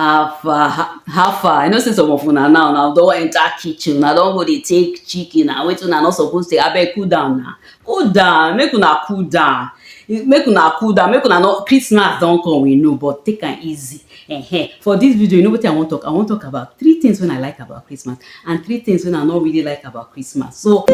how far how, how far i know say some of una now now don enter kitchen una don go dey take chicken na wetin una no suppose take abeg cool down na cool down make una cool down make una cool down make una no christmas don come we know but take am easy uh-huh. for this video you know wetin i wan talk i wan talk about three things wey i like about christmas and three things wey I no really like about Christmas. So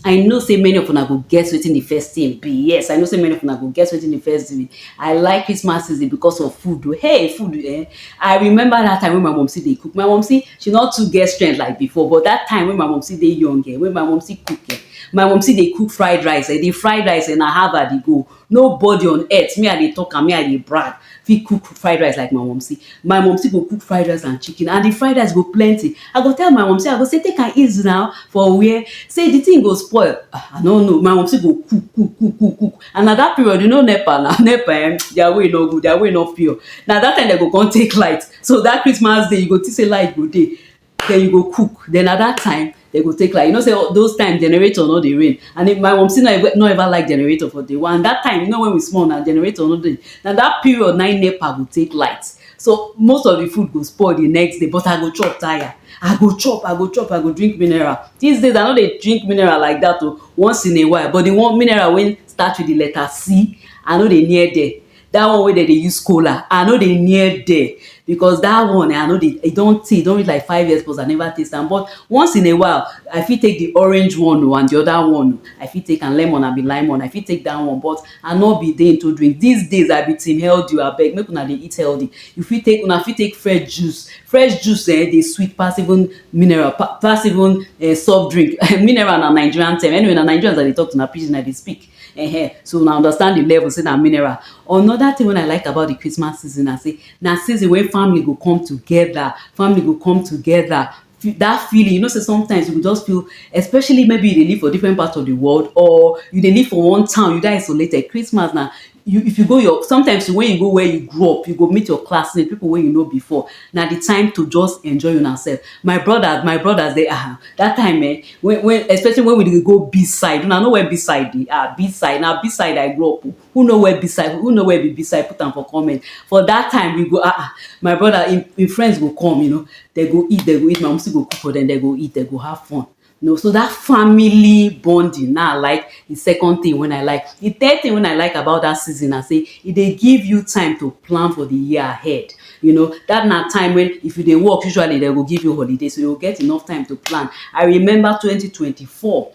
I know say many of una go guess wetin the first thing be. Yes, I know say many of una go guess wetin the first thing be. I like Christmas season because of food. Oh. Hey, food. Eh? I remember that time when my mom see they cook. My mom see she not too get strength like before, but that time when my mom see they young, eh? when my mom see cook, eh? my mom see they cook fried rice. Eh? The fried rice and eh? I have her they go. No body on earth, me I dey talk am, me I dey brag fit cook fried rice like my mumsy. My mumsy go cook fried rice and chicken and the fried rice go plenty. I go tell my mumsy, I go say take am easy now for where? Say the thing go spoil. Ah, I no know. My mumsy go cook, cook, cook, cook, cook and na that period, you know nepa na, nepa eh, their way no good, their way no pure. Na that time dem go come take light. So that Christmas day, you go think say light go dey. den you go cook den na dat time den go take light you know sey those time generator no dey reign and if my mumcy no ever no ever like generator for day one and dat time you know wen we small na generator no dey na dat period na im nepa go take light so most of di food go spoil di next day but I go chop tire I go chop I go chop I go drink mineral dis days I no dey drink mineral like dat oh once in a while but di one mineral wey start with di letter C I no dey near there that one wey dem dey use kola i no dey near there because that one eh, i no dey e don tey e don reach like five years plus i never taste am but once in a while i fit take the orange one o and the other one o i fit take am lemon abi limon i fit take that one but i no be dey into drink these days i be team healthy o abeg make una dey eat healthy you fit take una fit take fresh juice fresh juice eh dey sweet pass even mineral pa pass even eh soft drink mineral na nigerian term anyway na nigerians i dey talk to na pidgin i dey speak Ehen, so una understand the level sey na mineral. Another thing wey I like about the Christmas season na sey, na season wey family go come together, family go come together, that feeling, you know sey sometimes you go just feel, especially maybe you dey live for different part of the world or you dey live for one town, you dey isolated, Christmas na, you, if you go your, sometimes when you go where you grow up, you go meet your classmate, pipu wey you know before. na the time to just enjoy una self my brothers my brothers dey ah that time eh when when especially when we dey go beach side una know where beach side dey ah beach side na beach side I grow up o who know where beach side who know where be beach side put am for comment for that time we go ah ah my brother him him friends go come you know dem go eat dem go eat my mumsy go cook for dem dem go eat dem go have fun you know so that family bonding now i like the second thing when i like the third thing when i like about that season i say e dey give you time to plan for the year ahead you know that na time when if you dey work usually they go give you holiday so you get enough time to plan i remember 2024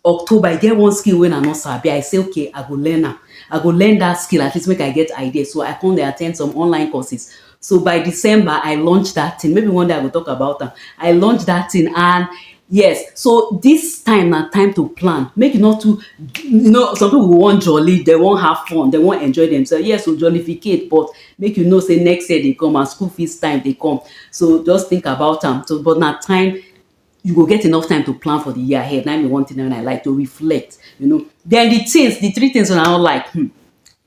october i get one skill when i no sabi i say okay i go learn am i go learn that skill at least make i get idea so i come dey attend some online courses so by december i launch that thing maybe one day i go talk about am i launch that thing and yes so this time na time to plan make you not too you know some people go wan jolly they wan have fun they wan enjoy themselves yes o jollificate but make you know say next year dey come and school fees time dey come so just think about am so but na time you go get enough time to plan for the year ahead. Now be one thing when I like to reflect, you know. Then the things, the three things when I don't like, hmm,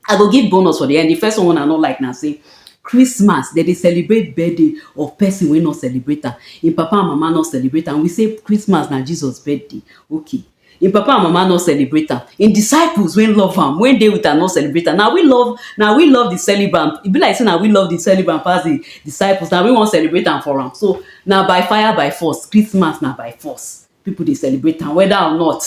I go give bonus for the end. The first one I don't like now say Christmas, they they celebrate birthday of person we not celebrate am. Im papa and mama not celebrate and We say Christmas now Jesus birthday. Okay, Im papa and mama no celebrate am. Im disciples wey love am, wey dey with am no celebrate am. Na we love na we love the celebrant. E be like say na we love the celebrant pass the disciples. Na we wan celebrate am for am. So, na by fire by force. Christmas na by force. Pipu dey celebrate am whether or not.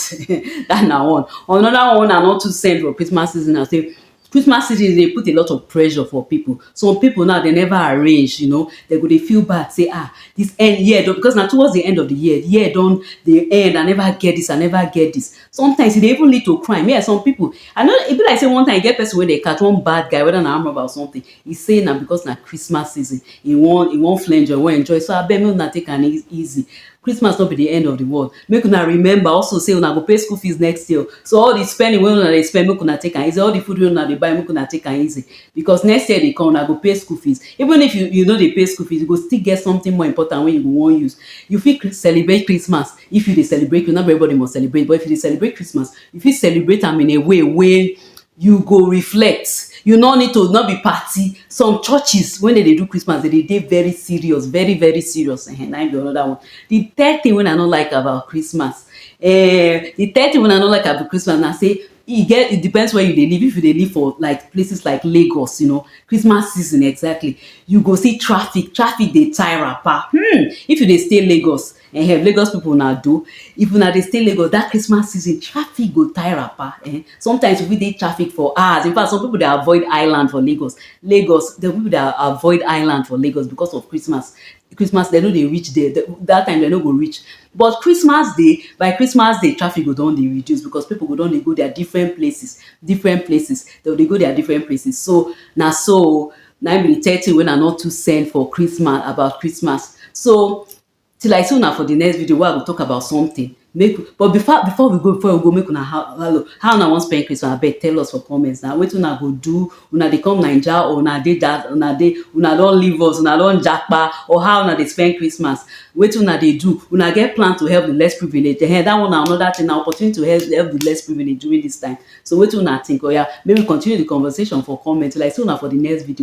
Dat na one. Another one wey una no too send for Christmas season na say Christmas season dey put a lot of pressure for pipu. Some pipu now dem never arrange you know, dem go dey feel bad sey ah dis end year don because na towards de end of de year, de year don dey end I never get dis, I never get dis. Sometimes e dey even lead to crime, me um some pipu I no e be like sey one time e get person wey dem catch, one bad guy whether na armed robber or something, He say na because na Christmas season, he wan he wan flenjo, he wan enjoy so abeg make una take am easy. Christmas no be the end of the world. Make una remember also say una go pay school fees next year so all the spending wey una dey spend make una take am easy, all the food wey una dey buy make una take am easy because next year dey come una go pay school fees. Even if you you no dey pay school fees you go still get something more important wey you go wan use. You fit celebrate Christmas if you dey celebrate, not be everybody must celebrate but if you dey celebrate Christmas, you fit celebrate am in a way wey you go reflect you no need to not be party some churches when they dey do Christmas they dey dey very serious very very serious eh na im be another one the third thing wey I no like about Christmas eh the third thing wey I no like about Christmas na say e get it depends where you dey live if you dey live for like places like Lagos you know Christmas season exactly you go see traffic traffic dey tie wrapper hmm if you dey stay Lagos Ehem Lagos people una do, if una dey stay Lagos that Christmas season traffic go tie wrapper eh sometimes we fit dey traffic for hours infact some people dey avoid island for Lagos, Lagos some people dey avoid island for Lagos because of Christmas, Christmas dem no dey reach there that time dem no go reach but Christmas day by Christmas day traffic go don dey reduce because people go don dey go their different places, different places dem go dey go their different places so na so o na im be the third thing wey una no too send for Christmas about Christmas so Till I see una for the next video wey I go talk about something make but before before we go before we go make una how hello how una wan spend Christmas abeg tell us for comments na wetin una go do una dey come Naija or una dey that una dey una don leave us una don japa or how una dey spend Christmas wetin una dey do una get plan to help the less privilege ehen that one na another thing na opportunity to help help the less privilege during this time so wetin una think oya make we continue the conversation for comment till I see una for the next video.